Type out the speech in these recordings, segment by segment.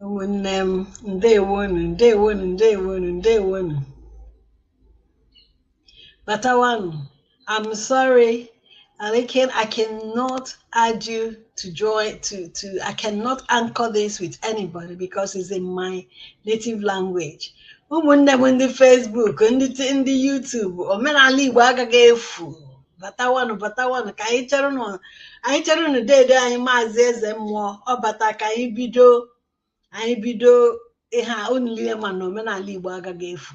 ụmụnne m ndewonu ndewonu ndewonu ndewonu batawanụ I'm sorry Alikin I cannot add you to join to to I cannot anchor this with anybody because it's in my native language ụmụnne m ndị Facebook ndị ndị YouTube omenala Igbo agaghị efu batawanụ batawanụ ka anyị cherenụ anyị cherenụ dede anyị maazị eze mmụọ ọ bata ka anyị bido anyị bido ihe a unu niile ma na omenala igbo agaghị efu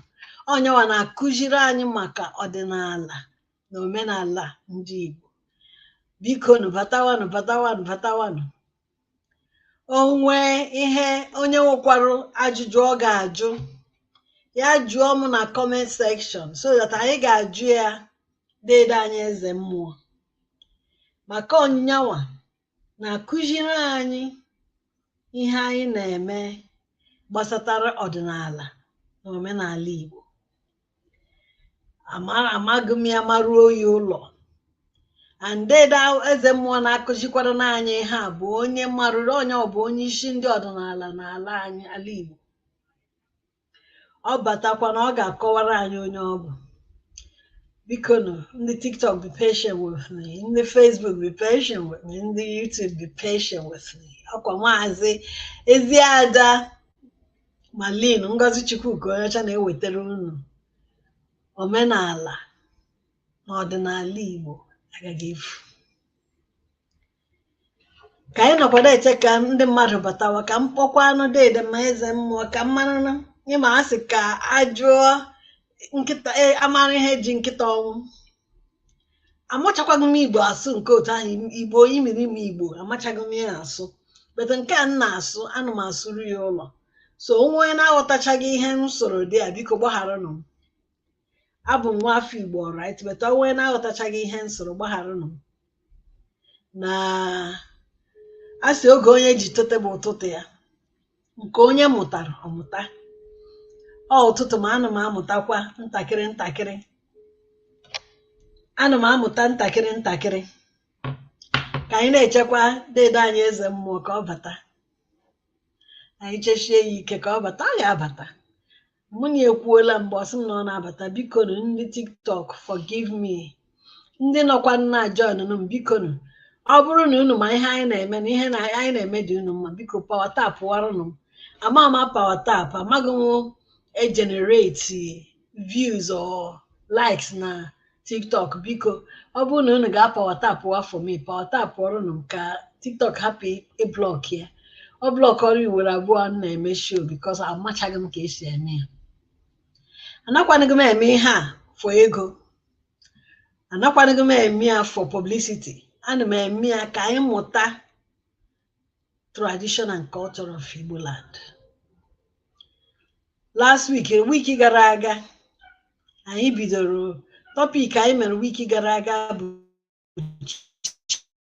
ọ nyanwa na-akụziri anyị maka ọdịnala na omenala ndị igbo biko nụ batawanụ batawanụ batawanụ o nwee ihe onye nwekwarụ ajụjụ ọ ga-ajụ ya jụọ m na comment section so that anyị ga-ajụ ya dede anyị eze mmụọ maka ọ nyanwa na-akụziri anyị ihe anyị na-eme gbasatara ọdịnala na omenala Igbo amara amaghị m ya maruo ya ụlọ and dede eze mmụọ na-akụzikwaranụ anyị ihe a bụ onye marụrụ onye ọ bụ onye isi ndị ọdịnala n'ala anyị ala Igbo ọ batakwa na ọ ga-akọwara anyị onye ọ bụ biko nụ ndị tiktok be patient with me ndị facebook be patient with me ndị youtube be patient with me ọ kwa maazị eziada marilyn ngozi chukwuka onye ọcha na-ewetara unu omenala na ọdịnala igbo agaghị efu ka anyị nọkwadụ eche ka ndị mmadụ batawa ka m kpọkwanụ dede m eze mmụọ ka m marụnụ ị ma a sị ka a jụọ nkịta e, a mara ihe ji nkịta ọnwụ amachakwaghị m igbo asụ nke otu ahụ igbo imirimi igbo amachaghị m ya asụ but nke a m na-asụ ana m asụru ya ụlọ so o nwee onye na-aghọtachaghị ihe m sụrụ there biko gbagharanụ m abụ m nwa afọ igbo alright but o nwee onye na-aghọtachaghị ihe m sụrụ gbagharanụ m na a sị oge onye ji tete bụ ụtụtụ ya nke onye mụtara ọ mụta ọ ụtụtụ ma ana m amụtakwa ntakịrị ntakịrị ana m amụta ntakịrị ntakịrị ka anyị na-echekwa dede anyị eze mmụọ ka ọ bata anyị chechie ya ike ka ọ bata ọ ga-abata mụ na ya ekwuola mgbe ọ sị m na ọ na-abata bikonu ndị tiktok forgive me ndị nọkwa na-ajoinụ m bikonu ọ bụrụ na unu ma ihe anyị na-eme na ihe na anyị na-eme dị unu mma biko power tapwaranụ m ama m na power tap amaghị egenerate views or likes na tiktok biko ọ bụrụ na unu ga-apawa tapụ ya for me pawa tapụọrọ nụ m ka tiktok hapụ ịblọk ya ọ blọkọrọ iwere abụọ m na-eme show because amachaghị m ka esi eme ya anakwanịghị m eme ihe a for ego anakwanịghị m eme ya for publicity ana m eme ya ka anyị mụta tradition and culture of Igbo land last week wiki gara aga anyị bidoro tọpik anyị mere wiki gara aga bụ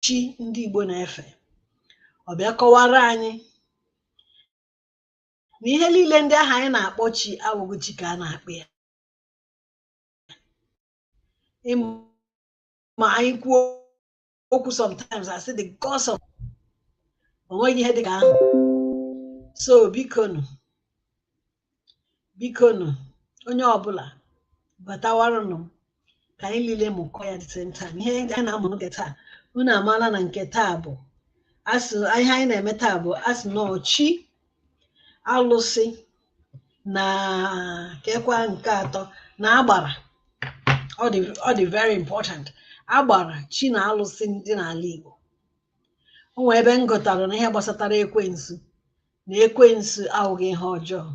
chi ndị Igbo na-efe ọ bịa kọwara anyị na ihe niile ndị ahụ anyị na-akpọ chi awụghị chi ka a na-akpọ ya ma anyị kwuo okwu sometimes I say the gods of onweghị ihe dị ka ahụ so bikonu bikonu onye ọbụla batawaranụ m ka anyị niile mụkọ ya the same time ihe anyị na-amụ nke taa unu amaala na nke taa bụ asị ihe anyị na-eme taa bụ asị na ọ chi alụsị na kekwa nke atọ na agbara ọ dị ọ dị very important agbara chi na alụsị ndị n'ala Igbo o nwee ebe m gụtara na ihe gbasatara ekwensu na ekwensu awụghị ihe ọjọọ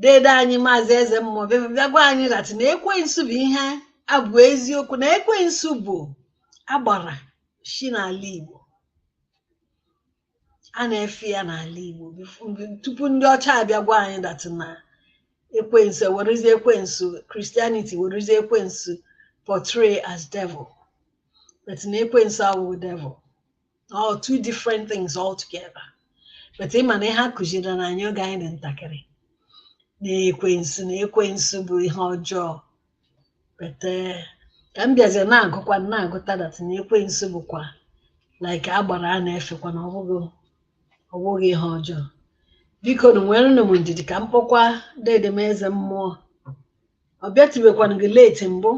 dede anyị maazị eze mmụọ bịa bịa gwa anyị that na ekwensu bụ ihe a bụ eziokwu na ekwensu bụ agbara chi n'ala Igbo a na-efe ya n'ala Igbo bif- mgbe- tupu ndị ọcha abịa gwa anyị that na ekwensu werezie ekwensu Christianity werezie ekwensu portray as devil but na ekwensu awụghị devil all two different things altogether but ị ma na ihe a kụziri na anyị oge anyị dị ntakịrị na ekwensu na ekwensu bụ ihe ọjọọ but ka m bịazie na-agụkwa na-agụta that na ekwensu bụkwa like agbara a na-efekwa na ọbụghị ọbụghị ihe ọjọọ bikonu nwere nụ m ndidi ka m kpọkwa dede m eze mmụọ ọ bịatụbekwanụghị late mbụ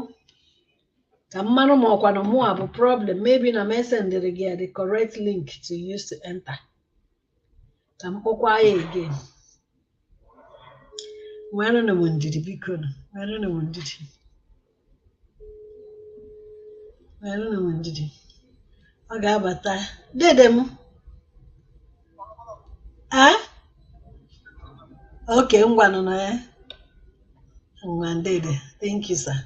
ka m mara ma ọkwanụ mụa bụ problem maybe na m esendịrịghị ya the correct link to use to enter ka m kpọkwaa ya again nwerenụ m ndidi biko nụ nwerenụ m ndidi nwerenụ m ndidi ọ ga-abata dede m a okay ngwanụ na ya ngwa dede thank you sir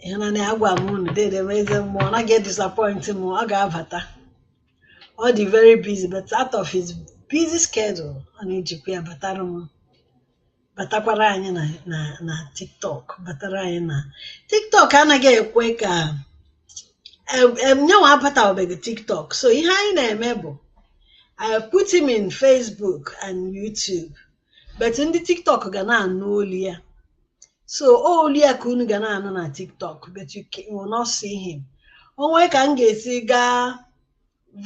ị hụna na agwa m unu dede m eze mmụọ anaghị disappoint m ọ ga-abata ọ dị very busy but out of his busy schedule ọ na-ejikwa ya batara m batakwara anyị na na na tiktok batara anyị na tiktok anaghị ekwe ka em- em, nyanwa abatabeghị tiktok so ihe anyị na-eme bụ I put him in Facebook and YouTube but ndị tiktok ga na-anụ olu ya so olu ya ka unu ga na-anụ na tiktok but you will not see him o nwee ka m ga-esi gaa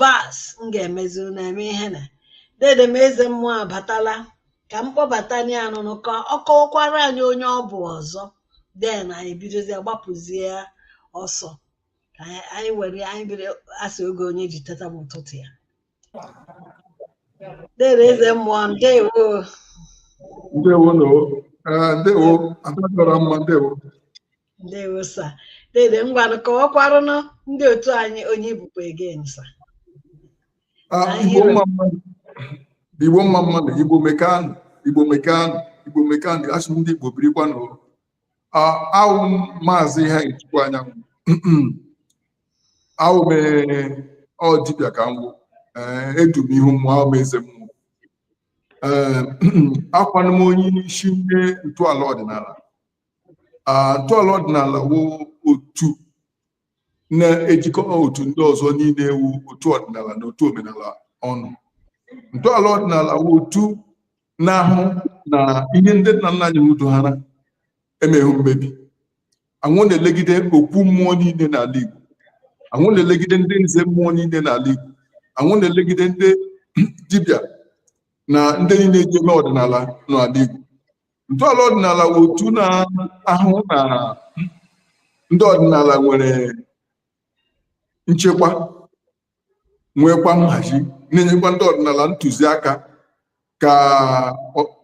vas m ga-emezi unu eme ihe na dede m eze mmụọ abatala ka m kpọbata ya anụnụ ka ọ kọwakwara anyị onye ọ bụ ọzọ then anyị bidozie gbapụzie ya ọsọ ka anyị were anyị bido a sị oge onye ji teta bụ ụtụtụ ya Dede eze mmụọ ndewo. Ndewo no. Eh, ndewo ada dị ọra mma ndewo. Ndewo sa. Dede ngwanụ kọwakwaranụ ndị otu anyị onye ị bụkwa again sa. Ah, Anyị Igbo hụrụ- mma mmanụ. Igbo mma mmanụ, Igbo mekanụ, Igbo mekanụ, Igbo mekanụ, asị m ndị Igbo birikwanụ. awụ m maazị iheanyịchukwu anyanwụ awụ m ọ dibịa ka m wụ edu m ihu mmụọ awụ m eze mmụọ awụkwanụ m onye isi ndị ntọala ọdịnala ntọala ọdịnala wụ otu na-ejikọ otu ndị ọzọ niile wụ otu ọdịnala na otu omenala ọnụ ntọala ọdịnala wụ otu na-ahụ na ihe ndị nna nna anyị udo ha emeghị mmebi anwụ na-elegide okwu mmụọ niile n'ala Igbo anwụ na-elegide ndị nze mmụọ niile n'ala Igbo anwụ na-elegide ndị dibịa na ndị niile eji eme ọdịnala n'ala Igbo ntọala ọdịnala wụ otu na-ahụ na ndị ọdịnala nwere nchekwa nwekwa nhazi na-enyekwa ndị ọdịnala ntụziaka ka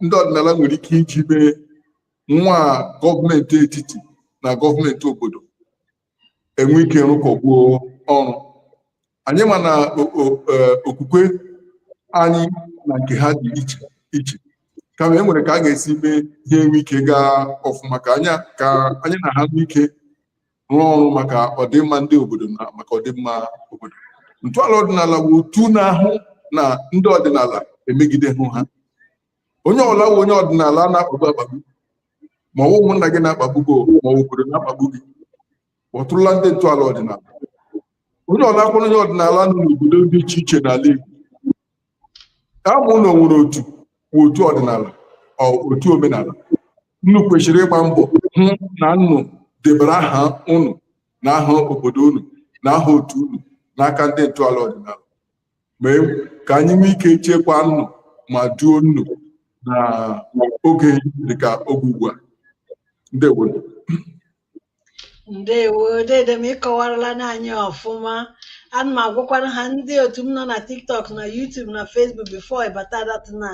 ndị ọdịnala nwere ike iji mee nwa gọọmenti etiti na gọọmenti obodo enwe ike rụkọkwuo ọrụ anyị ma na e, okwukwe anyị na nke ha dị iche iche kama e nwere ka a ga-esi mee ihe enwe ike gaa ọfụma ka anya ka anyị na ha nwee ike rụọ ọrụ maka ọdịmma ndị obodo na maka ọdịmma obodo ntọala ọdịnala wụ otu na-ahụ na ndị ọdịnala emegidehụ ha onye ọwụla wụ onye ọdịnala a na-akpagbu akpagbu ma ọ wụ ụmụnna gị na-akpagbu gị ma ọ wụ obodo na-akpagbu gị kpọtụrụla ndị ntọala ọdịnala onye ọwụla a kpọrọ onye ọdịnala nọ n'obodo dị iche iche n'ala Igbo ma unu nwere otu wụ otu ọdịnala ọ otu omenala unu kwesịrị ịgba mbọ hụ na unu debara aha unu na aha obodo unu na aha otu unu n'aka ndị ntọala ọdịnala mee ka anyị nwee ike chekwa unu ma duo unu na oge dịka oge ugbu a ndewo ndewo dede m ị kọwarala n'anyị ọfụma ana m agwakwara ha ndị otu m nọ na tiktok na youtube na facebook before ị bata that na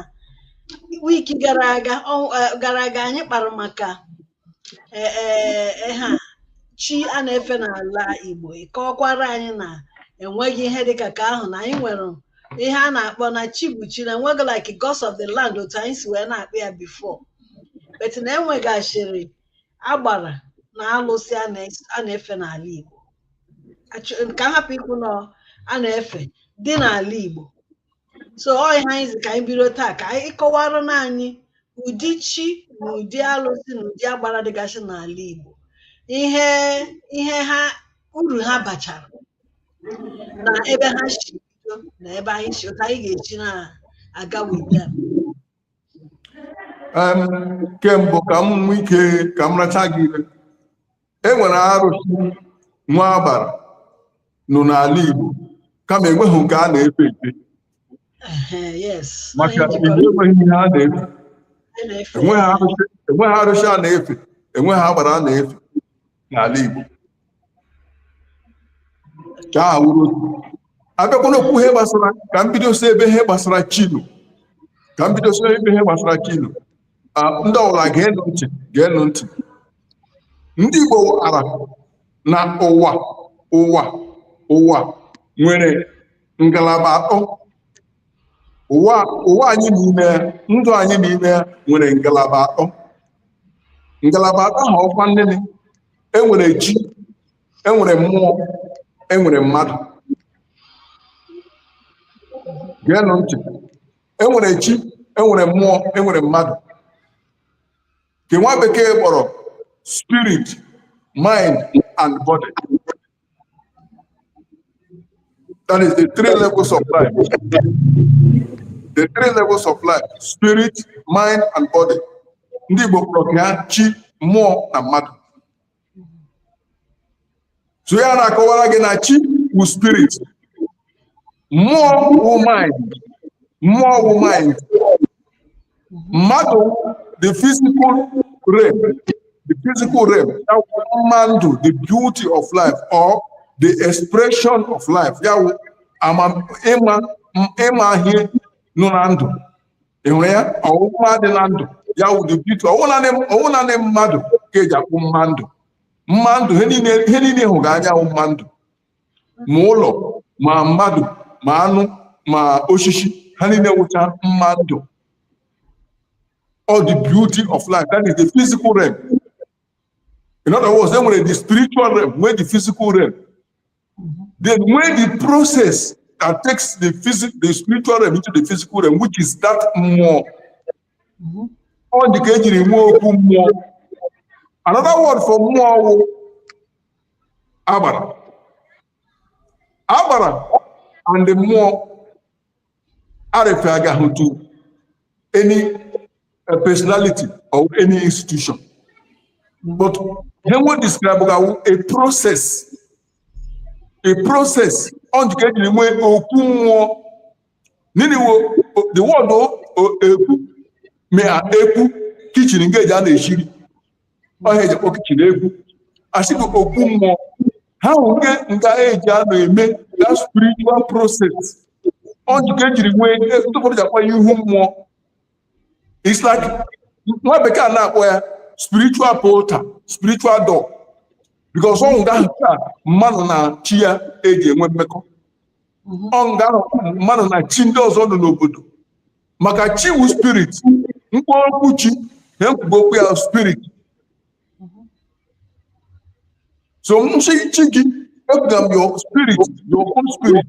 week gara aga gara aga anyị kpara maka e, e, e, ha chi a na-efe n'ala Igbo ị kọọkwara anyị na enweghị ihe dịka ka ahụ na anyị nwere ihe a na-akpọ na chi bụ chi na enweghị like gods of the land otu anyị si wee na-akpọ ya before but na enwegasịrị agbara na alụsị a na- a na-efe n'ala Igbo Achọ- ka m hapụ ikwu na a na-efe dị n'ala Igbo so ọ ihe anyị sị ka anyị bido taa ka ị kọwara na anyị ụdị chi na ụdị alụsị na ụdị agbara dịgasị n'ala Igbo ihe ihe ha uru ha bachara na ebe ha si bido na ebe anyị si otu anyị ga-esi na-aga with them ke mbụ ka m nwee ike ka m racha gị ire e nwere arụsị nwee agbara nọ n'ala Igbo kama enweghị nke a na-efe efe maka Igbo enweghị ihe a na-efe enweghị arụsị a na-efe enweghị agbara a na-efe n'ala Igbo ka ọ wụrụ a bịakwa n'okwu ihe gbasara ka m bido si ebe ihe gbasara chi nọ ka m bido si ebe ihe gbasara chi nọ ndị ọwụla geenụ ntị geenụ ntị ndị Igbo maara na ụwa ụwa ụwa nwere ngalaba atọ ụwa ụwa anyị nọ n'ime ndụ anyị nọ n'ime nwere ngalaba atọ ngalaba atọ ha ọkwa nnene enwere chi enwere mmụọ enwere mmadụ geenụ ntị enwere chi enwere mmụọ enwere mmadụ nke nwa bekee kpọrọ spirit mind and body That is the three levels of life. The three levels of life, spirit, mind, and body. Ndị Igbo kpọrọ ya chi, mmụọ na mmadụ. So ya na-akọwara gị na chi wụ spirit, mmụọ wụ mind mmụọ wụ mind mmadụ the physical realm the physical realm ya wụ mma ndụ the beauty of life or the expression of life ya wụ amam- ịma ịma ihe nọ na ndụ ị hụrụ ya ọwụ mma dị na ndụ ya wụ the beauty ọwụ naanị ọwụ naanị mmadụ ka eji akpọ mma ndụ mma ndụ ihe niile ihe niile hụga anya wụ mma ndụ ma ụlọ ma mmadụ ma anụ ma osisi ha niile wụcha mma ndụ all the beauty of life that is the physical realm in other words e nwere the spiritual realm nwee the physical realm then nwee the process that takes the, phys- the spiritual realm into the physical realm which is that mmụọ ọ dị ka ejiri nwee okwu mmụọ another word for mmụọ wụ agbara agbara and the mmụọ arefer gaghị to any uh, personality or any institution but ihe nwe describe ga wụ a process a process ọ dị ka ejiri nwee okwu mmụọ nini wo the word ekwu me a ekwu kichin nga eji a na-eshi iri ọ ihe eji akpọ kichin ekwu asị bụ okwu mmụọ ha nke nga eji a na-eme that spiritual process ọ ji ka ejiri nwee ndị ụfọdụ ji akpọ ya ihu mmụọ it's like nwa bekee a na-akpọ ya spiritual portal spiritual door because ọwụ nga ahụ ka mmadụ na chi ya eji enwe mmekọ mhm. ọ nga ahụ ka mmadụ na chi ndị ọzọ nọ n'obodo maka chi wu spirit mkpụrụ okwu chi ihe ekwuga okwu ya spirit so m shị chi gị ekwuga m your spirit your own spirit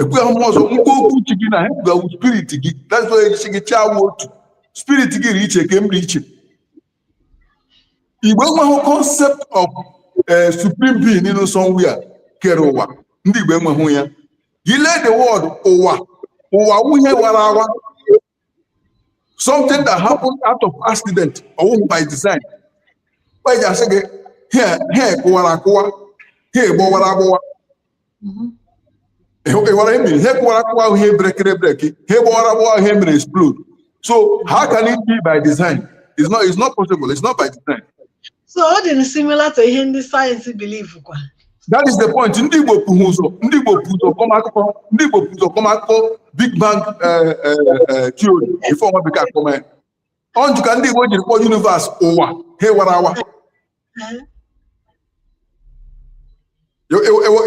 ekwuga m ọzọ mkpụrụ okwu chi gị na ihe ekwuga wụ spirit gị that's why chi gị chi awụ otu spirit gị ri iche ke m ri iche Igbo enweghị concept of eh, supreme being in somewhere kere ụwa ndị Igbo enweghị ya i lee the word ụwa ụwa wụ ihe wara awa something that happened out of accident ọwụhụ by design eji asị gị ihe kụwara akụwa ihe gbọwara agbọwa mhm. ịghọrọ emiri ihe kụwara akụwa wụ ihe brekere breki ihe gbọwara agbọwa wụ ihe mere explode so how can it be by design it's not, it's not possible it's not by design so ọ dị similar to ihe ndị science believe kwa that is the point ndị Igbo bu ụzọ ndị Igbo bu ụzọ kọma akụkọ ndị Igbo bu ụzọ kọma akụkọ Big Bang eh, eh, eh, theory before nwa bekee akọma ya ọ njụ ka ndị Igbo jiri kpọọ universe ụwa ihe wara awa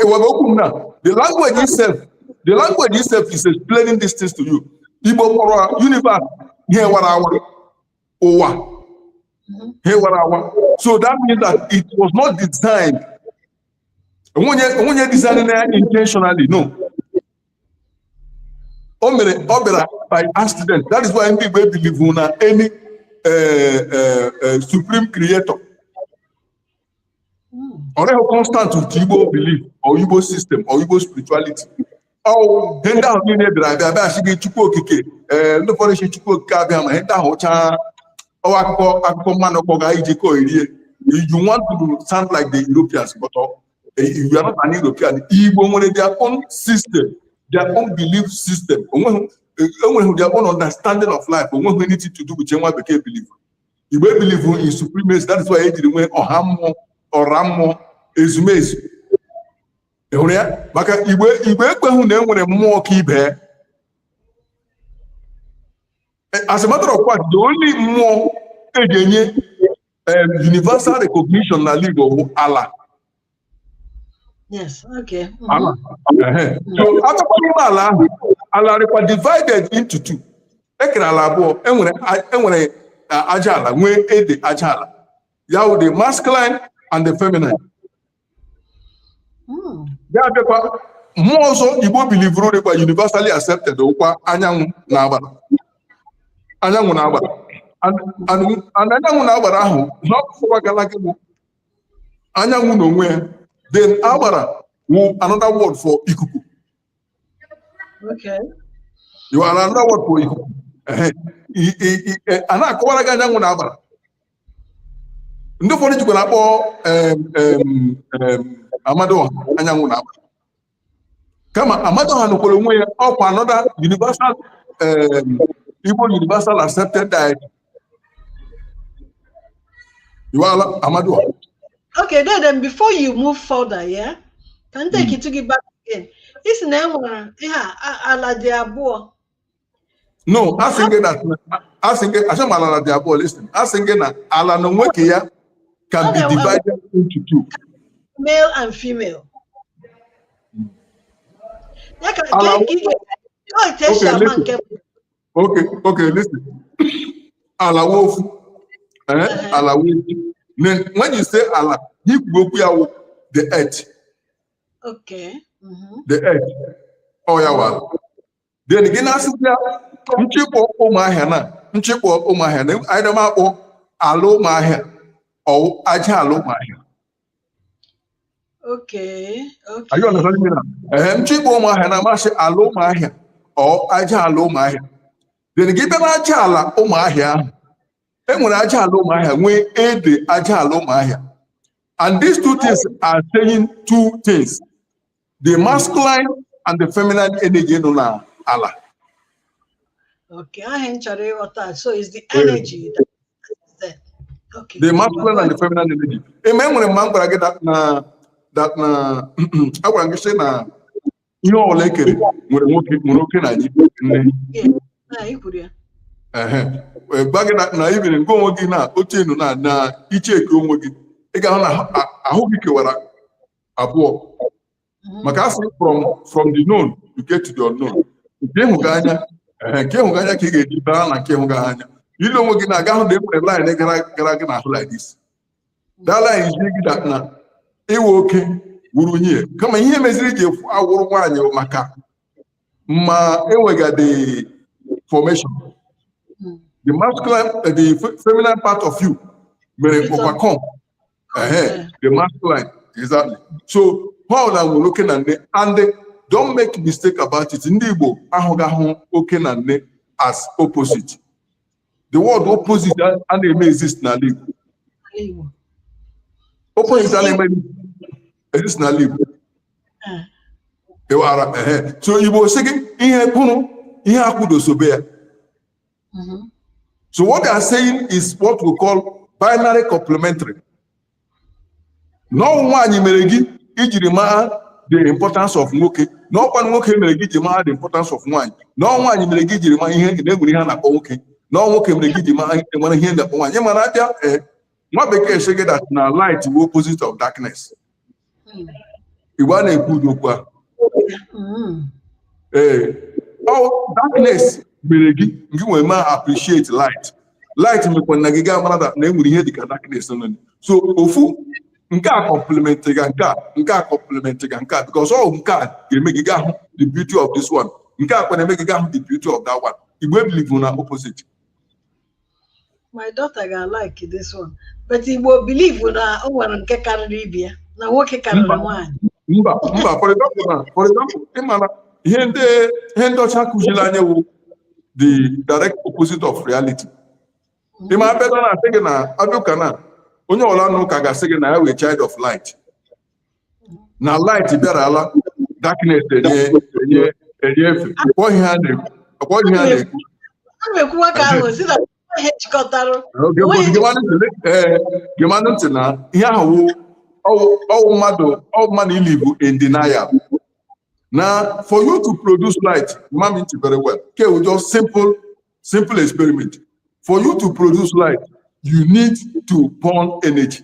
ewere okwu m na the language itself the language itself is explaining these things to you Igbo kpọrọ universe ihe wara awa ụwa ihe wara awa so that means that it was not designed o nweghị onye design na ya intentionally no o mere ọ bịara by accident that is why ndị Igbo ebilivu na any eh, eh, eh, supreme creator ọ dịghị constant with Igbo belief or Igbo system or Igbo spirituality ọ wụ ihe ndị ahụ niile bịara abịa a bịa sị gị Chukwu Okike ee ndị ụfọdụ sị Chukwu Okike Abịama ihe ndị ahụ wụcha ọ wụ akụkọ akụkọ mmanụ kọga iji ka o yirie you want to sound like the Europeans but ọ you are not an European Igbo nwere their own system their own belief system nwee nwee their own understanding of life o nweghị anything to do with ihe nwa bekee believe Igbo ebelieve in supremacy that is why e jiri nwee ọha mmụọ ọra mmụọ ezumezu ị hụrụ ya maka Igbo ekweghị na e nwere mmụọ ka ibe as a matter of fact the only mmụọ e ji enye universal recognition n'ala Igbo wụ ala Yes, okay. Mhm. ala ehe. so atakwa n'ime ala ahụ ala rịkwa divided into two e kere ala abụọ e nwere e nwere a- aja ala nwee ede aja ala ya wụ the masculine and the feminine hmm. ya abịakwa mmụọ ọzọ Igbo bilivuru dịkwa universally accepted wụkwa anyanwụ na agbara anyanwụ na agbara anyanwụ na agbara ahụ a kọwagara gị bụ anyanwụ na onwe ya then agbara wụ another word for ikuku ya wụ another word for ikuku a na-akọwara gị anyanwụ na agbara ndị ụfọdụ jikwa na-akpọ Amadioha anyanwụ na agbara kama Amadioha nọkwara onwe ya ọ wụkwa another universal Igbo universal accepted deity ya wụ Amadioha okay then, then before you move further yeah ka m take it to gị back again ị sị na e nwere ihe ala dị abụọ no asịghị m na asịghị m asịghị m ala dị abụọ listen asị m gị na ala na onwe ke ya can be divided into two male and female ya ka nke esi ama nke okay okay listen ala wụ ofu eh ala wụ ofu then when you say ala you go ya wụ the earth okay mm-hmm. the earth ọ ya wụ then gị na-asịkwa ya nchịkpọ ụmụahịa na nchịkpọ ụmụahịa na either m akpọ ala ụmụahịa or aja ala ụmụahịa Okay, okay. Are you understanding me now? Ehem, nchịkpọ ụmụahịa na m asị ala ụmụahịa or aja ala ụmụahịa then gị bịa na aja ala ụmụahịa ahụ e nwere aja ala ụmụahịa nwee ede aja ala ụmụahịa and these two things are saying two things the masculine and the feminine energy nọ na ala Okay, ahụ m chọrọ ịghọta. So it's the energy that is there. Okay. the masculine and the feminine energy eme enwere mma m gwara gị that na that na agwara m gị sị na ihe ọbụla e kere nwere nwoke nwere oke na nne Yeah. Ah, i kwuru ya. ehe wee gwa gị that na even gị onwe gị na otu ị nọ na na ị checkie onwe gị ị ga-ahụ na ahụ- a- ahụ gị kewara abụọ mhm. maka a sị from from the known you get to the unknown nke ịhụga anya nke ịhụga anya ka ị ga-eji baa na nke ịhụga anya i le onwe gị anya ị ga-ahụ na enwere line gara gara gị n'ahụ like this that line zi gị that na ị wụ oke wụrụ nye kama ihe meziri ji efu awụrụ nwaanyị maka ma enwegadị formation the masculine the feminine part of you mere overcome Uh-huh. The masculine, exactly. So ha hụ na e nwere oke na nne and don't make mistake about it. Ndị Igbo ahụghị ahụ oke na nne as opposite. The word opposite a na-eme exist n'ala Igbo. Opposite a na-eme exist n'ala Igbo. Ewara, uh-huh. so Igbo sị gị ihe kwụrụ ihe akwụdosobe ya. Mm -hmm. So what they are saying is what we call binary complementary. Na ọ wụ nwaanyị mere gị i jiri mara the importance of nwoke na ọ kwa nwoke mere gị ji mara the importance of nwaanyị na ọ wụ nwaanyị mere gị jiri mara na e nwere ihe a na-akpọ nwoke na ọ wụ nwoke mere gị ji mara enwere ihe na-akpọ nwaanyị ị ma na a bịa ee eh, nwa bekee sị gị that na light wụ opposite of darkness igbo a na-ekwu ụdị okwu a ee darkness mere gị gị wee ma appreciate light light mekwa na gị gaa mara na enwere ihe dịka darkness nọ so ofu nke a complement ga nke a nke a complement ga nke a because ọ nke a ga-eme gị gaa hụ the beauty of this one nke a kwa na-eme gị gaa hụ the beauty of that one igbo ebelieve na opposite my daughter ga like this one but igbo believe na o nwere nke karịrị ibe ya na nwoke karịrị nwaanyị mba mba for example na for example ị mara ihe ndị ihe ndị ọcha kụziri anyị wụ the direct opposite of reality ị ma a bịa na-asị gị na a bịa ụka na onye ọla nọ ụka ga-asị gị na ya wụ child of light na light bịarala darkness enye enye enye efe ọkpọ ihe a na-ekwu ọkpọ ihe a na-ekwu a na-ekwuwa ka ahụ si na ihe jikọtara Oge bụ Onweghị- gewanụ ntị le- ee, gewanụ ntị na ihe ahụ wụ ọwụ- ọwụ mmadụ ọwụ mmadụ i-live in denial now for you to produce light ṅaa m ntị very well nke a wụ just simple simple experiment for you to produce light you need to burn energy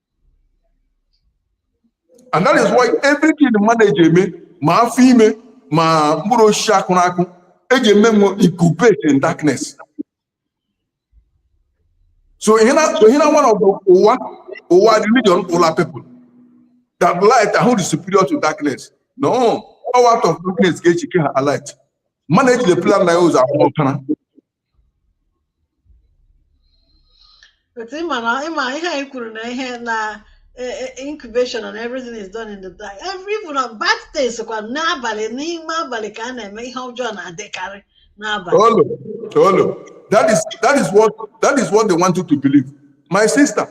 and that is why everything mmadụ eji eme ma afọ ime ma mkpụrụ osisi a kụrụ akụ eji eme wụ incubate in darkness so ihe na so ihe na one of the ụgha ụgha religion ụla people that light ahụ dị superior to darkness no ọ out of darkness ka e ji kee light mmadụ ejide plan na ya ụzọ abụọ ọkara But ịma na ịma ihe anyị kwuru na ihe na incubation and everything is done in the dark. Every even bad things kwa n'abalị n'ime abalị ka a na-eme ihe ọjọọ na-adịkarị n'abalị. Olu, olu. That is that is what that is what they want you to believe. My sister,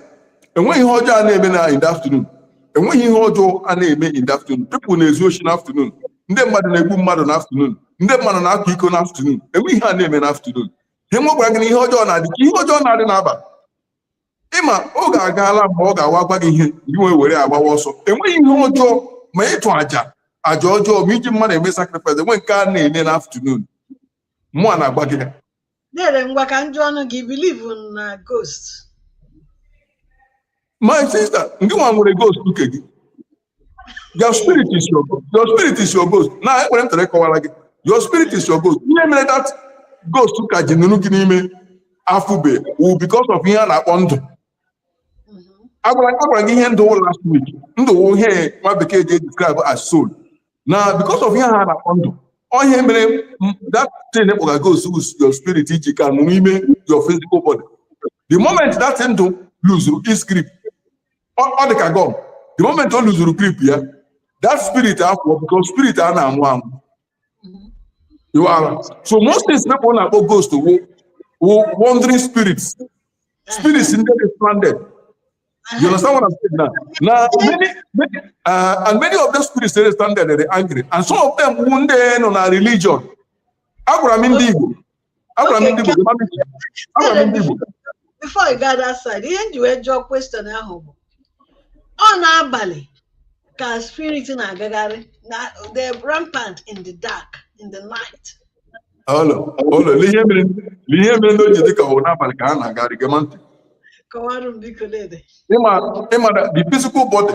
enweghị ihe ọjọọ a na-eme na in the afternoon. Enweghị ihe ọjọọ a na-eme in the afternoon. People na-ezu oshi na afternoon. Ndị mmadụ na-egbu mmadụ na afternoon. ndị mmadụ na-akwa iko n'afternoon enweghị ihe a na-eme n'afternoon ha enwekwara gị na ihe ọjọọ na-adị ka ihe ọjọọ na-adị n'abalị ịma oge agaala mgbe ọ ga-awụ a gwa gị ihe gị wee were agbawa ọsọ enweghị ihe ọjọọ ma ịtụ aja aja ọjọọ ma iji mmadụ eme sacrifice enweghị nke a na-eme n'afternoon mụa na-agwa gị ya Dere ngwa ka m jụọnụ gị believe na ghost. My sister, gị nwa nwere ghost nke gị. Your spirit is your ghost. Your spirit is your ghost. Na ekwere m try kọwara gị. Your spirit is your ghost. Ihe mere that ghost ka ji nọrọ gị n'ime afụbe wụ because of ihe a na-akpọ ndụ. Agwara agwara gị ihe ndụ wụ last week. Ndụ wụ ihe nwa bekee ji describe as soul. now because of ihe a a na-akpọ ndụ ọ ihe mere m- that thing kpọga ghost wụ your spirit ji ka nọ n'ime your physical body the moment that ndụ luzuru its grip ọ ọ dị ka gum the moment o luzuru grip ya that spirit apụọ because spirit a na-anwụ anwụ You are. So most things people na-akpọ ghost wụ wụ wandering spirits spirits ndị dị stranded You understand what I'm saying now? Now, many, many uh, and many of those spirits they stand there, they're angry. And some of them wound in on a religion. Abraham Indigo. Abraham Indigo. Abraham Indigo. Before I got that side, ihe nji wee jụọ question ahụ bụ ọ na-abalị ka spirit na-agagharị na the rampant in the dark in the night ihe mere ndị o ji dịka ọ wụ n'abalị ka ha na-agarị gee m ntị ịmara the physical body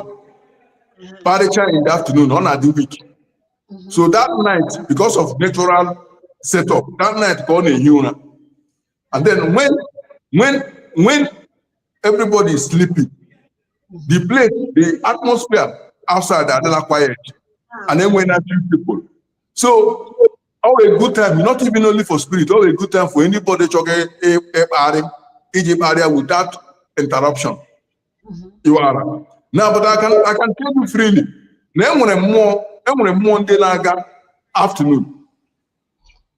kparịcha in the afternoon ọ na-adị weak mm-hmm. so that night because of natural setup that night ka ọ na-ehi ụra And then when when when everybody is sleeping, the place, the atmosphere outside are not quiet. And then when I see people. So all a good time, not even only for spirit, all a good time for anybody choke Egypt area without interruption. Mm-hmm. You are now, but I can I can tell you freely. Na enwere mmụọ enwere mmụọ ndị na-aga afternoon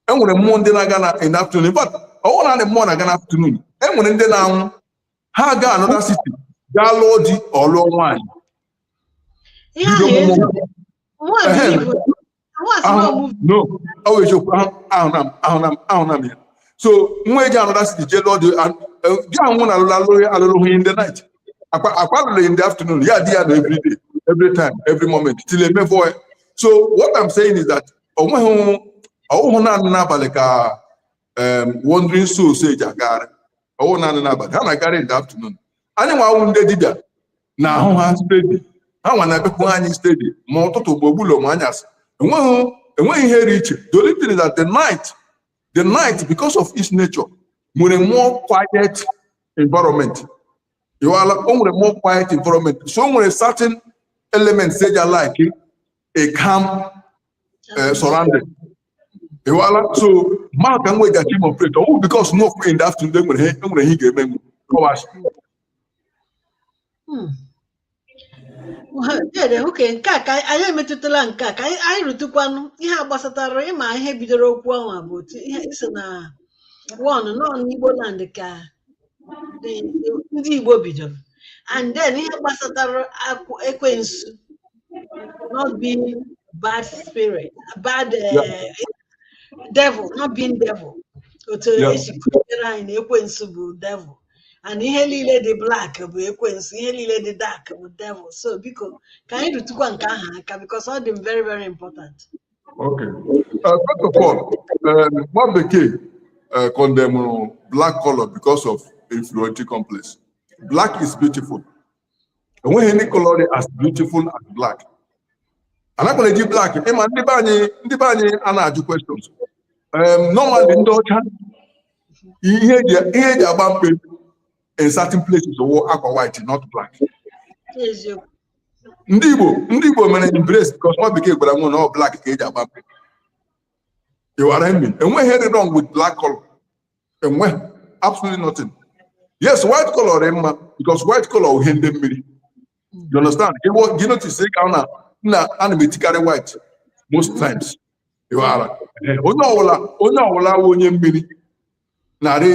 enwere mmụọ ndị na-aga na in the afternoon but ọwụ naanị mmụọ na-aga na afternoon enwere ndị na-anwụ ha ga another city gaa lụọ di or lụọ nwaanyị ihe ahụ Bido eziokwu nwa Ehe. Igbo nwa si na ọmụmụ no ọ wụ eziokwu ahụ ahụ na m ahụ na m ahụ na m ya so nwa eji another city jee lụọ di an- eh, di ahụ na alụrụ alụrụ ya alụrụ hụ in the night akwa akwa alụrụ in the afternoon ya di ya na every day every time every moment till emefọ ya so what i'm saying is that onweghị ọwụhụ naanị n'abalị ka wandering souls eji agagharị ọwụ naanị n'abalị ha na-agagharị in the afternoon anyị nwa wụ ndị dibịa na-ahụ ha steady ha nwa na-ebepụ anyị steady ma ụtụtụ mgbe ogbulo ma anyasị enweghị enweghị ihe dị iche the only thing is that the night the night because of its nature nwere more quiet environment ịwala o nwere more quiet environment so o nwere certain elements eji a like a calm uh, surrounding. Ịwala so maka m wee gachi ma operate ọwụ because nwa okwu in the afternoon enwere ihe enwere ihe ị ga-eme m kọwachi dede okay nke a ka anyị emetụtala nke a ka anyị anyị rụtụkwanụ ihe a gbasatara ịma ihe bidoro okwu ahụ a bụ otu ihe isi na wọn nọ n'Igbo land ka ndị Igbo bidoro and then ihe gbasatara ekwensu not being bad spirit bad eh, devil not being devil otu esi kụziere anyị na ekwensu bụ devil and ihe niile dị black bụ ekwensu ihe niile dị dark bụ devil so biko ka anyị rụtụkwa nke ahụ aka because ọ dị m very very important Okay. Uh, first of all, um, nwa bekee uh, condemnụrụ black color because of inferiority complex. Black is beautiful. Enweghị any color as beautiful as black. Anakwanụ eji black ịma ndị be anyị ndị be anyị a na-ajụ questions. Um, normally ndị ọcha ihe eji ihe eji agba mkpe in certain places ọwụ akwa white not black. ndị Igbo ndị Igbo mere embrace because nwa bekee gwara nwa na ọ black ka eji agba mkpe ịwara emi enweghị ihe dị wrong with black color enweghị absolutely nothing yes white color dị mma because white color wụ ihe ndị mmiri you understand ịwọ gị notice ị ga na na ana m etikarị white most times ịwara onye ọwụla onye ọwụla wụ onye mmiri na-arị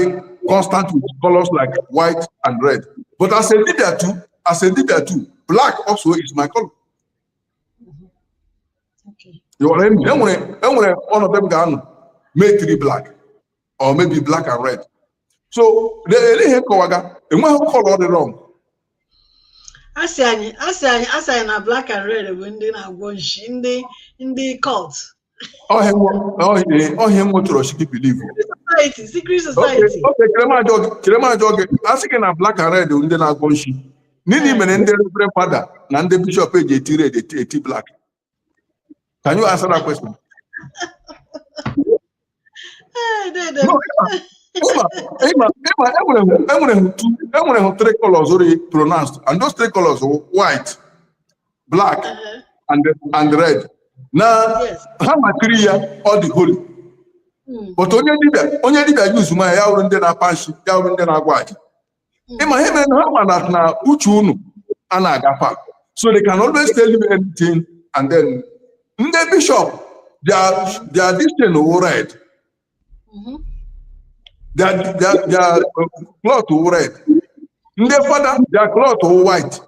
constant with colors like white and red but as a dibịa too as a dibịa too black also is my color ịghọrọ emi enwere enwere ọnọdụ m ga-anọ m etiri black or maybe black and red so ele ihe m kọwaga enweghị color dị wrong a sị anyị a sị anyị a sị anyị na black and red bụ ndị na-agwọ nshi ndị ndị cult ọ ihe e wetụrụ sị gị believe society secret society okay chere ma jụọ gị a sị gị na black and red bụ ndị na-agwọ nshi gịnị mere ndị reverend fada na ndị bishọp eji eti red eti eti black Can you answer that question? e nwere hụ three colors rị pronounced and those three colors were white black uh-huh. and and red na ha makịrị ya ọ dị holy hmm. but onye dibịa onye dibịa yuzuma ya ya wụrụ ndị na-apa nshi ya wụrụ ndị na-agwa aja ị ma ihe mere na ha ma that na uche unu a na-agafa so they can always tell you anything and then ndị bishop their their this thing wụ red their their their cloth wụ red ndị fada their cloth wụ white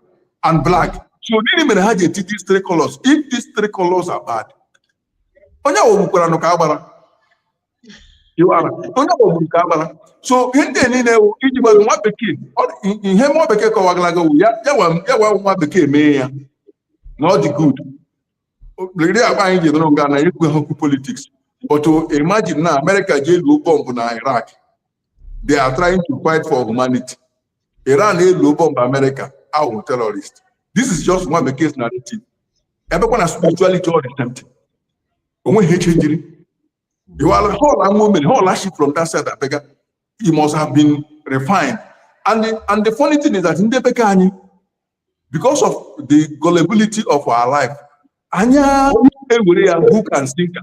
and black so gịnị mere ha ji eti these three colors if these three colors are bad onye ahụ gwukwara nke agbara onye ọgbụrụ nke agbara so ihe ndị niile ewu iji gbado nwa bekee ihe nwa bekee kọwagalaga wu ya gwa nwa bekee mee ya na ọ dị good rịrị kpa anyị ji nọrọ nga na-ekwu okwu politiks but imagine na amerịka jee luo bọmbụ na iraq they are trying to fight for humanity iran eluo bọmbụ amerịka ha wụ terrorist this is just nwa bekee's narrative a bịakwa na spirituality ọ the same thing o nweghị ihe chenjiri iwala hall ama o mere hall aship from that side abịaga he must have been refined and the, and the funny thing is that ndị be ka anyị because of the gullibility of our life anyị ewere ya hook and sinker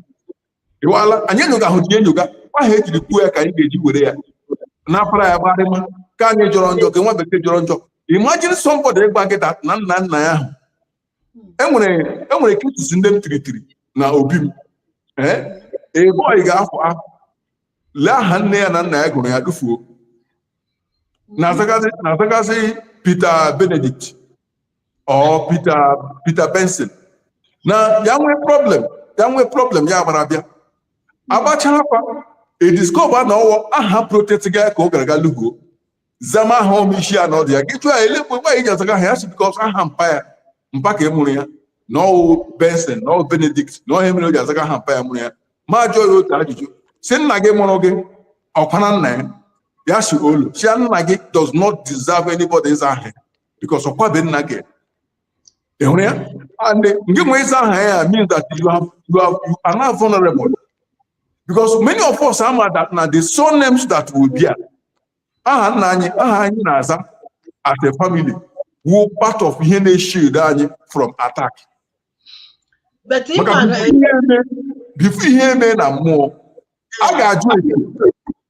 iwala anyị enyoga ahụ ji enyoga ahụ e jiri kwuo ya ka anyị ga-eji were ya napara ya gbarịma ka anyị jọrọ njọ ka nwa bekee jọrọ njọ imagine somebody ịgwa gị that na nna nna ya ahụ e nwere e nwere cases ndị m tiritiri na obi m ee a boy ga-afọ a lee aha nne ya na nna ya gụrụ ya tufuo na-azagazi na-azagazi Peter Benedict or Peter Peter Benson na ya nwee problem ya nwee problem ya agbara bịa a gbacha afa e discover na ọ wụ aha protect ga ya ka ọ gara ga lugo zama aha ọ ma isi ya na ọdụ ya gị jụọ ya ele mgbe mgbe i ji azaga aha a ya sị bikọs aha mpa ya mpa nke mụrụ ya na ọ wụ benson na ọ wụ benedict na ọ ihe mere o ji azaga aha mpa ya mụrụ ya ma jụọ ya otu ajụjụ sị nna gị mụrụ gị ọ kwana nna ya ya sị olo sị ya nna gị does not deserve anybody ịza aha ya bikọs ọ kwabe nna nke mụrụ ya and gị nwa ịza aha ya means that you have you have you are now vulnerable because many of us ama that na the surnames that we bear aha nna anyị aha anyị na-aza as a family wụ part of ihe na-eshield anyị from attack But ị makwa na before ihe eme before ihe eme na mmụọ a ga-ajụ ese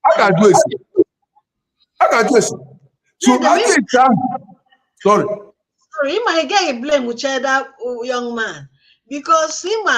a ga-ajụ ese a ga-ajụ ese so Nne, ajụ ese ahụ sorry sorry, ị ma ị gaghị blame Uche that uh, young man because ị ma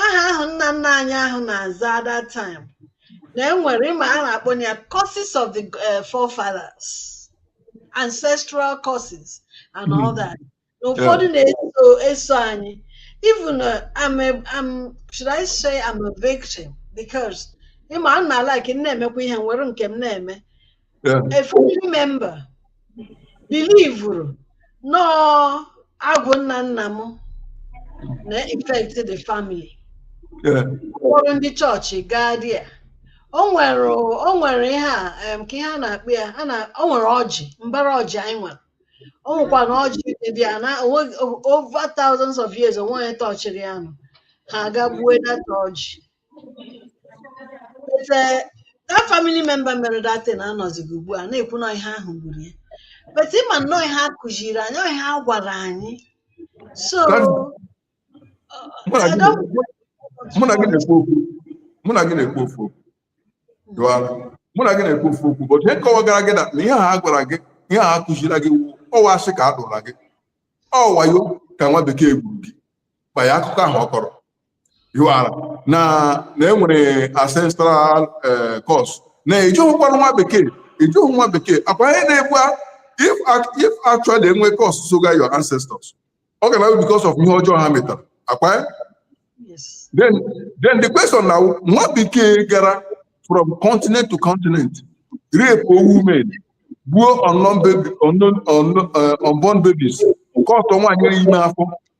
aha ahụ nna nna anyị ahụ na-aza at that time na enwere ịma a na-akpọ ya curses of the eh, forefathers ancestral curses and all hmm. that na ụfọdụ na-eso eso anyị even uh, I'm a, I'm should I say I'm a victim because ịma a na-ala like m na-emekwa ihe nwere nke m na-eme a family member believuru na ọ agwụ nna nna m na-affect the family kpọrọ ndị chọọchị gaa there o nwere o nwere ihe a em, ka ihe a na-akpọ ya a na- o nwere ọjị mbara ọjị anyị nwere o nwekwa na ọjị dị there na onwe- over thousands of years onweghị onye touchiri ya nọ ha aga gbuo that ọjị that family member mere that thing anọzighị ugbu a na-ekwu na ihe ahụ gburu ya but ịma na ọ ihe a kụziri anyị ọ ihe a gwara anyị so mụ na gị na-ekwu okwu mụ na gị na-ekwu ofu okwu mụ na gị na-ekwu ofu okwu bụ ihe m kọwagara gị na ihe a gwara gị ihe a kụziri gị ọ wụ asị ka a dụra gị ọ wayo ka nwa bekee gburu gị via akụkọ ahụ ọ kọrọ hiwara na na enwere ancestral eh, curse na ejighịkwanụ nwa bekee ejighị nwa bekee akwa ihe na-egbu if if actually enwe curse soga your ancestors ọ ga na-awụ because of ihe ọjọọ ha metara akwa eh? then then the question now nwa bekee gara from continent to continent rape women gbuo unknown baby unknown eh, unborn babies cut nwaanyị ime afọ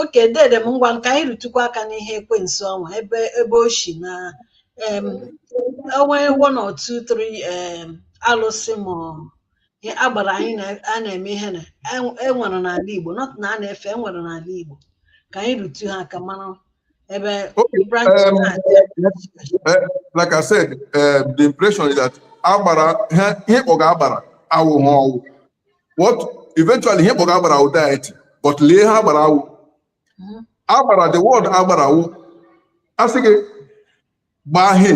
okay dede m ngwanụ ka anyị rụtụkwa aka n'ihe ekwensu ọnwa ebe ebe o si na em, onwe one or two three em, alụsị ma ọ- ihe agbara anyị na- a na-eme ihe na en- enwere n'ala Igbo not na a na-efe enwere n'ala Igbo ka anyị rụtụ ha aka mara ebe Okay, branch um, na-adị Eh, like I said, eh, the impression is that agbara ihe ihe kpọga agbara awụghị ọwụ what eventually ihe kpọrọ agbara wụ deity but lee ihe agbara wụ Mhm. agbara the word agbara wụ a sị gị gbaa ihe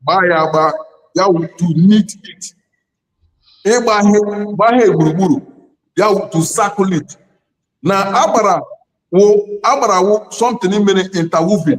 gbaa ya agba ya wụ to knit it ịgba ihe gbaa ihe gburugburu ya wụ to circle it na agbara wụ agbara wụ something mere interwoven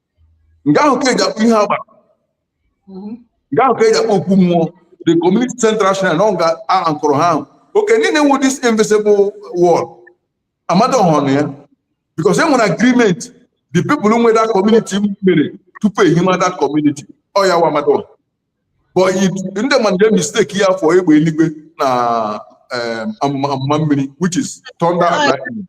nga ahụ ka eji akpọ ihu agbara mhm. nga ahụ ka eji akpọ okwu mmụọ the community central shrine nọ nga a kụrụ ha ahụ oke niile nwe this invisible wall amadioha nọ ya because e nwere agreement the people nwe that community mere tupu ehima that community ọ ya wụ amadioha but ndị mmadụ na-e mistake ya for egbe eluigwe na um, amụma mmiri which is thunder and lightning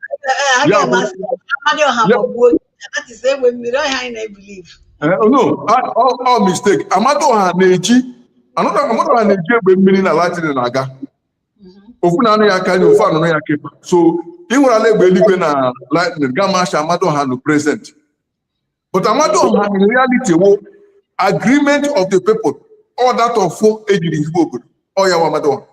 no ọ wụ mistake amadioha na-eji amadioha na-eji egbe mmiri na lightning na-aga mm-hmm. ofu na anụ ya aka anya ofu anụnụ ya kepa so ị hụrụla egbe eluigwe na lightning ga masha amadioha nọ present but amadu ọha in reality wo agreement of the people all that of fo ejiri ezigbo obodo ọ ya wa amadu ọha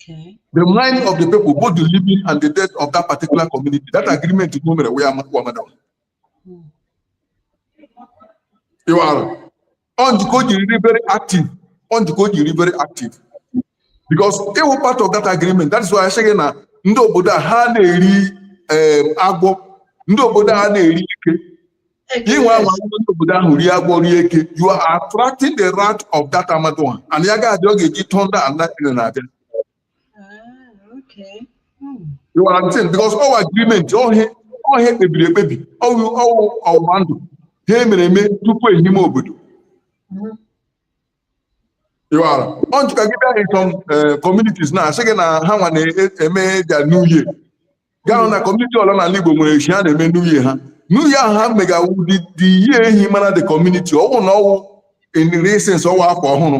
Okay. the mind of the people both the living and the dead of that particular community that agreement is no mere where amadu ọha you are ọ njikọ o jiri dị very active ọ njikọ o jiri very active because ịwụ part of that agreement that is why I say na ndị obodo a ha na-eri em, agwọ ndị obodo a na-eri eke ị nwaa anwa n'obodo ahụ rie agwọ rie eke you are attracting the wrath of that Amadioha and ya ga-adị ọ ga-eji thunder and lightning abịa You are understand because ọwụ agreement ọ ihe ọ ihe ekpebiri ekpebi ọwụ ọwụ ọgbụgba ndụ ha emere eme tupu ehime obodo ịwara ọ njụka gị bịa in some eh, communities na asị gị na ha nwa na-eme their new year gaa hụ na community ọwụla n'ala Igbo nwere eshi ha na-eme new year ha new year ahụ ha mega wụ the the year ehimara the community ọwụ na ọwụ in real sense ọwụ afọ ọhụrụ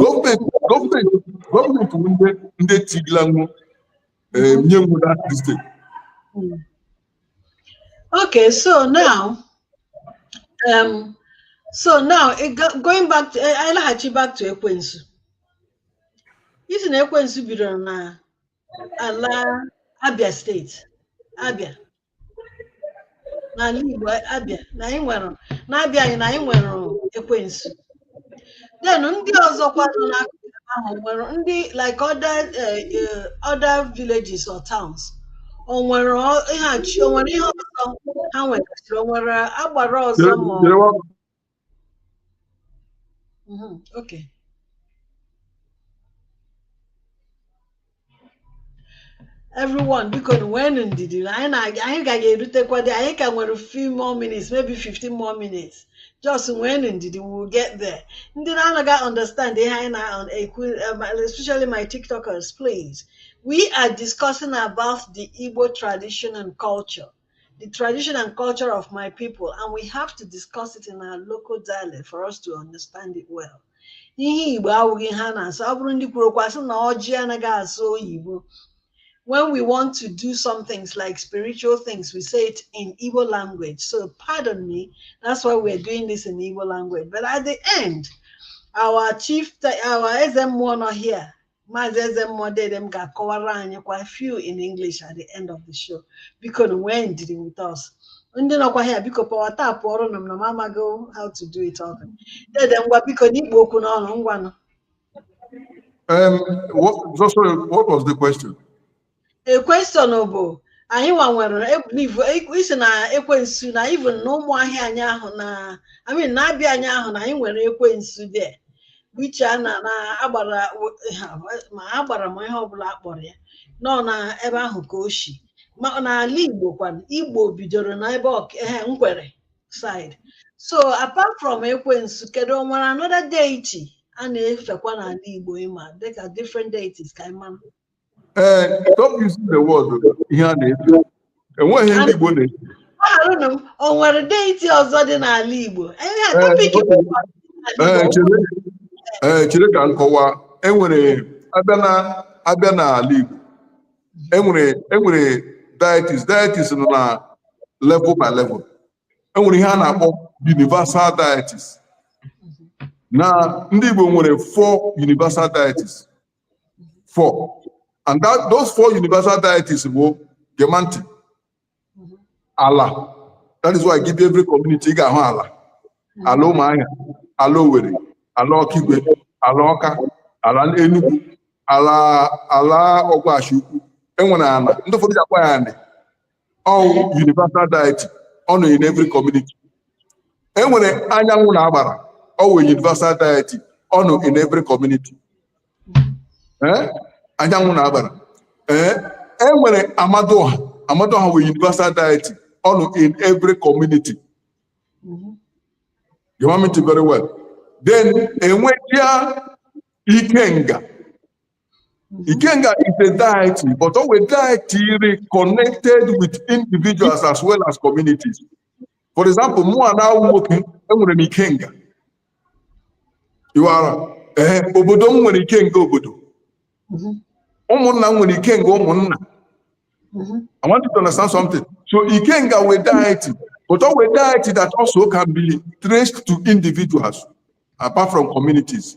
gọọmenti gọọmenti ndị ndị tigila nwu nye nwu na steeti Okay, so now, um, so now it go- going back to eh, anyị laghachi back to ekwensu. Ị sị na ekwensu bidoro na ala Abia steeti, Abia n'ala Igbo Abia na anyị nwere n'Abia anyị na anyị nwere ekwensu then ndị ọzọkwa nọ n'akụkụ ahụ nwere ndị like other eh, eh, other villages or towns o nwere ọ- ihe a chi- o nwere ihe ọzọ ha nwere o nwere agbara ọzọ ma ọ- Mhm, okay. everyone bikonu weenụ ndidi na anyị na-aga anyị ka ga-erutekwa there anyị ka nwere few more minutes maybe 15 more minutes just weenụ ndidi we will get there ndị na-anaghị understand ihe anyị na-ekwu um, especially my tiktokers please we are discussing about the igbo tradition and culture the tradition and culture of my people, and we have to discuss it in our local dialect for us to understand it well. Ihe Igbo awụghị ha na-asụ, ọ bụrụ ndị kwuru okwu asị na ọjị anaghị asụ oyibo. When we want to do some things like spiritual things, we say it in Igbo language. So pardon me, that's why we're doing this in Igbo language. But at the end, our chief, our Eze Mmụọ nọ here, Maazị Eze Mmụọ Dede m ga-akọwara anyịkwa few in English at the end of the show bikonụ nwee ndidi with us ndị nọkwa here biko power tapụọrọnụ m ụnụ amago how to do it all Dede ngwa biko na ị kpụ okwu n'ọnụ ngwanụ Um, what, so sorry, what was the question? question bụ anyị nwa nwere ebelieve isi na ekwensu na even na Ụmụahịa anyị ahụ na I mean na Abịa anyị ahụ na anyị nwere ekwensu there which a na na agbara ma agbara ma ihe ọbụla a kpọrọ ya nọ na ebe ahụ ka o si ma n'ala Igbo kwanụ Igbo bidoro na ebe ọkehe Nkwere side so apart from ekwensu kedu o nwere another deity a na-efekwa n'ala Igbo ịma dịka different deities ka anyị mara ee stop using the word ihe a na-efe enweghị ndị Igbo na-efe Gbagharanụ m, o nwere deity ọzọ dị n'ala Igbo. Ihe a Ee, topic bụ ọdịnala Ee, Igbo. chere ee, chere ka m kọwa enwere a bịa na a bịa n'ala Igbo enwere enwere deities deities nọ na level by level enwere ihe a na-akpọ universal deities na ndị Igbo nwere four universal deities four and that those four universal deities bụ gee m ntị ala that is why ị gaa every community ị ga-ahụ ala ala Ụmụahịa ala Owerri ala Ọkigwe ala Ọka ala Enugu ala ala Ọgwashi ukwu enwere ala ndị ụfọdụ ja-akpọ ya Anị ọ wụ universal deity ọ nọ in every community e nwere anyanwụ na agbara ọ wụ universal deity ọ nọ in every community Eh? anyanwụ na agbara Eh? e nwere Amadịọha Amadịọha wụ universal deity ọ nọ in every community gee m ntị very well then e nwezịa Ikenga Mm-hmm. Ikenga is a deity, but ọ wụ deity rị connected with individuals as well as communities. For example, mụwa now nwoke, enwere m Ikenga. You are eh, obodo m nwere Ikenga obodo mm-hmm. ụmụnna m nwere Ikenga ụmụnna mm-hmm. I want you to understand something. So Ikenga wụ deity, but ọ wụ deity that also can be traced to individuals apart from communities.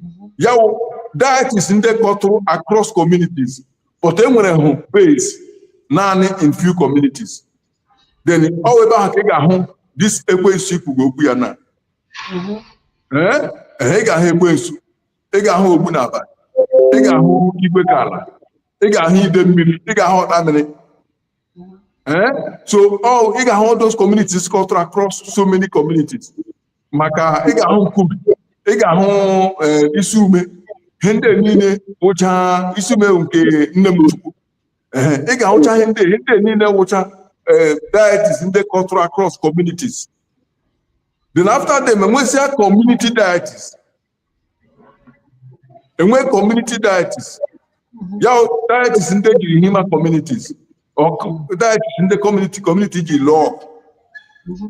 mhm. ya wụ deities ndị kọtụrụ across communities but e nwere hụ base naanị in few communities then ọ wụ ebe ahụ ka ị ga-ahụ this ekwensu ikwugo okwu ya na mhm. eh? Eh, ị ga-ahụ ekwensu ị ga-ahụ ogbu na abalị ị ga-ahụ igwe ka ala ị ga-ahụ ide mmiri ị ga-ahụ ọta mmiri Eh? so all oh, ị ga-ahụ all those communities kọtụrụ across so many communities maka ị ga-ahụ nkubi ị ga-ahụ eh, isi ume ihe ndị niile wụcha isi ume nke nne m chukwu eh, ị ga-ahụcha ihe ndị ihe ndị niile wụcha deities ndị kọtụrụ across communities then after them enwesịa community deities enwe community deities ya deities ndị jiri hima communities deities ndị community community ji lụọ ọgụ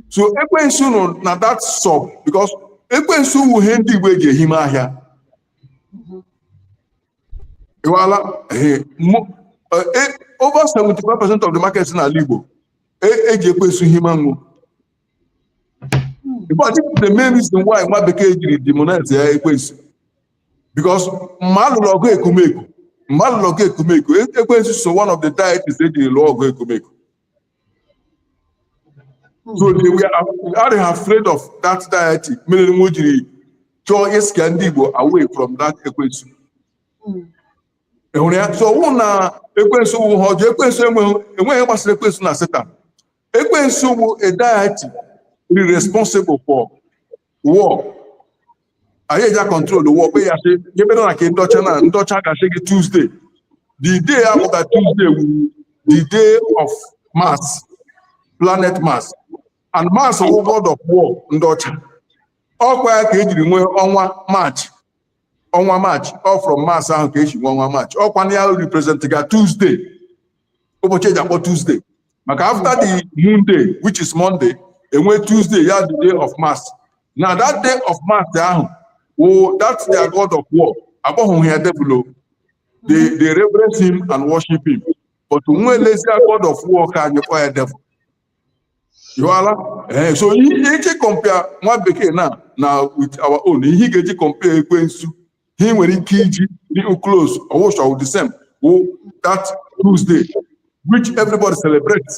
so ekwensu nọ na that sub because ekwensu wụ ihe ndị igbo eji ehime ahịa well over 75 percent of the markets n'ala igbo eji ekwensu hima nwo in fact this is the main reason why nwa bekee jiri demonize ya ekwensu because mgbe a lụrụ ọgụ ekumeku mgbe a lụrụ ọgụ ekumeku e- ekwensu so one of the deities e jiri lụọ ọgụ ekumeku so they are afraid of that deity mere nwo jiri chọọ ịscare ndị igbo away from that ekwensu enwere ya so ọwụ na ekwensu wụ ihe ọjọọ ekwensu enweghị enweghị ihe gbasara ekwensu na Satan Ekwensu bụ a deity responsible for war. Anyị eja control the war kpe ya sị nyebere na ka ndị ọcha na ndị ọcha ga-asị gị Tuesday. The day after Tuesday wụ the day of Mars, planet Mars. And Mars wụ god of war ndị ọcha. Ọkwa ya ka ejiri nwee ọnwa March. Ọnwa March, ọ from Mars ahụ ka eji nwee ọnwa March. Ọkwa na ya represent ga Tuesday. ụbọchị eji akpọ Tuesday maka after the moon day which is Monday enwe Tuesday ya the day of Mars na that day of Mars ahụ wụ that their god of war akpọghị ya devil o they they reverence him and worship him but nwo elesia god of war ke anyị kpọ ya devil ịghọala ee so ihe ị ga-eji compare nwa bekee na na with our own ihe ị ga-eji compare ekwensu ihe ị nwere ike iji dị close ọwụshọ the same wụ that Tuesday which everybody celebrates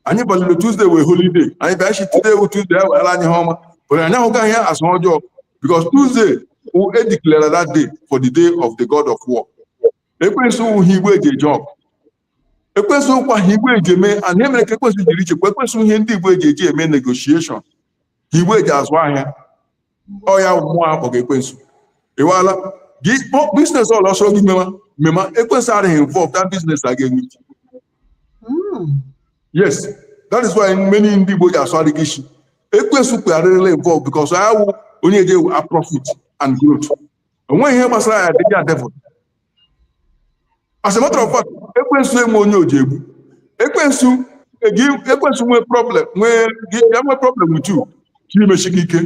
anyị balịrị Tuesday wee holiday anyị bịa shi today wụ Tuesday anyị weghara anyị ihe ọma but anyị ahụgaghị ya as ọjọọ because Tuesday wụ e declare that day for the day of the god of war ekwensu wụ ihe Igbo eji eje ọgụ ekwensu ụkwa ha igbo eji eme and ihe mere ka ekwensu jiri ichekwa ekwensu ihe ndị igbo eji eji eme negotiation ha igbo eji azụ ahịa ọ ya mmụọ akpọga ekwensu ịwala gị business ọla ọ sọ gị mema mema ekwensu adịghị involve that business a ga-enwe ike hmm. yes that is why many ndị igbo ji asụ adịghị isi ekwensu kpegharịrịla involve because ọ wụ onye eji ewu a profit and growth o nweghị ihe gbasara ya dị ya devil as a matter of fact ekwensu enwe onye o ji egbu ekwensu egi ekwensu nwee problem nwee gị ya nwee problem with you chọ imeshi gị ike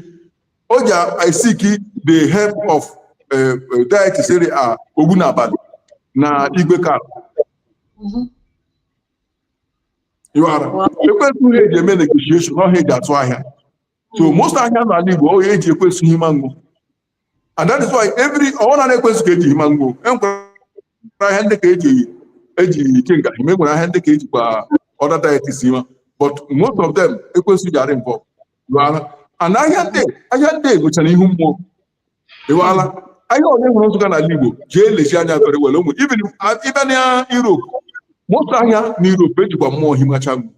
o ji I seek the help of eh, eh, deities rị ka ogbunabalị na igwekala Mhm. ịwara ekwensu ihe eji eme negotiation ọ ha eji azụ ahịa so most ahịa n'ala Igbo ọ eji ekwensu hima ngwo and that is why every ọ wụ naanị ekwensu ka eji hima ngwo enwere ahịa ndị ka eji eji ikenga hima enwere ahịa ndị ka ejikwa other deities hima but most of them ekwensu ji arị involved ịwara and ahịa ndị ahịa ndị nwechara ihu mmụọ ịwala ahịa onye hụrụ na-azụga n'ala igbo jee lezie anya very well onwe even ị bịa na europe most ahịa na europe ejikwa mmụọ himacha ngwo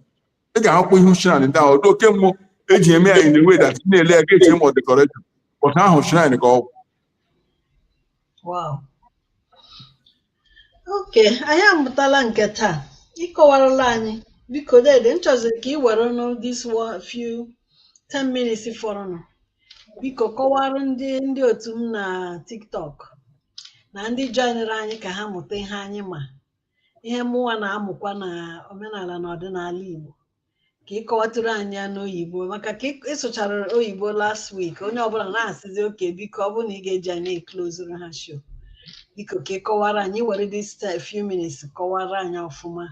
ị ga-ahụkwa ihu shrine ndị ahụ oke mmụọ eji eme anyị na-enwe that na-ele ya ga-eche ma ọ decoration but ahụ shrine ka ọ wụ wow okay anyị amụtala nke taa ị kọwarala anyị biko dede m chọziri ka ị werenụ this few 10 minutes fọrọnụ biko kọwara ndị ndị otu m na tiktok na ndị joinere anyị ka ha mụta ihe anyị ma ihe mụnwa na-amụkwa na omenala na ọdịnala Igbo ka ị kọwatụrụ anyị ya n'oyibo maka ka ị sụchara oyibo last week onye ọbụla na-asịzi okay biko ọ bụ na ị ga-eji anyị eklozuru ha show biko ka ị kọwara anyị were this few minutes kọwara anyị ọfụma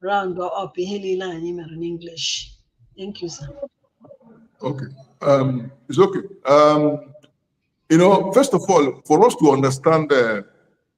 round up ihe niile anyị mere n'English thank you sir okay um, it's okay um, you know first of all for us to understand uh,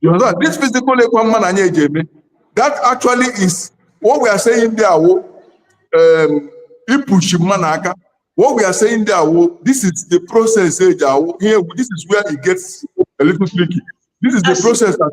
You understand? This physical ekwa mma na anyị eji eme that actually is what we are saying there wo um, ipush mma na aka what we are saying there wo this is the process eji awo here this is where it gets a little tricky this is the Asị- process that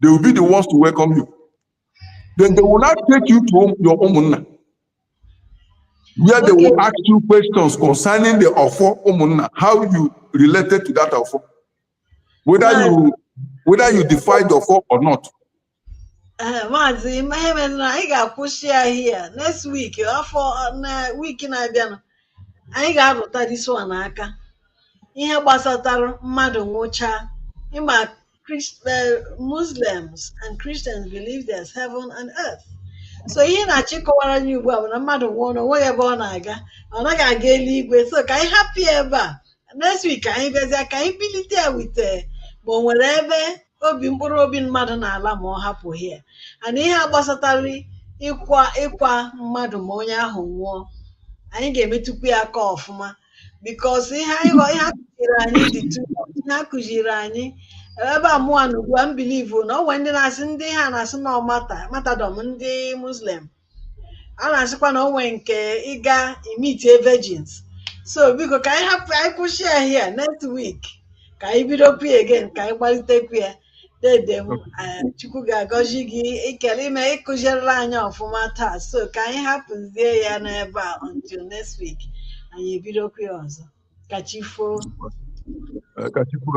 they will be the ones to welcome you then they will now take you to your ụmụnna where they will ask you questions concerning the ọfọ ụmụnna how you related to that ọfọ whether you whether you defy the ọfọ or not eh, maazị ihe mere na anyị ga-akwụsị ya here next week week na-abịanụ anyị ga-arụtụ this one aka ihe gbasatara mmadụ nwụchaa ịma Christ, uh, Muslims and Christians believe there's heaven and earth. so ihe Nnachi kọwara anyị ugbu a bụ na mmadụ nwụọ na o nweghị ebe ọ na-aga ọ naghị aga eluigwe so ka anyị hapụ ya ebe a next week ka anyị bịazie ka anyị bilite ya with ma o nwere ebe obi mkpụrụ obi mmadụ na-ala ma ọ hapụ here and ihe a gbasatara ịkwa ịkwa mmadụ ma onye ahụ nwụọ anyị ga-emetụkwu ya aka ọfụma because ihe anyị ghọ- ihe a kụziri anyị dị too much. ihe a kụziri anyị ebe a mụa nọ ugbu a m believe na o nwere ndị na-asị ndị ha na-asị na ọ martyr martyrdom ndị muslim a na-asịkwa na o nwere nke ịga imeet virgins so biko ka anyị hapụ anyị kwụsị ya here next week ka anyị bidokwu ya again ka anyị gbalitekwu ya dede m eh, chukwu ga-agọzi gị ikele ime ị kụzirila anyị ọfụma taa so ka anyị hapụzie ya n'ebe a until next week anyị ebidokwa ya ọzọ ka chi foo Ka Chukwu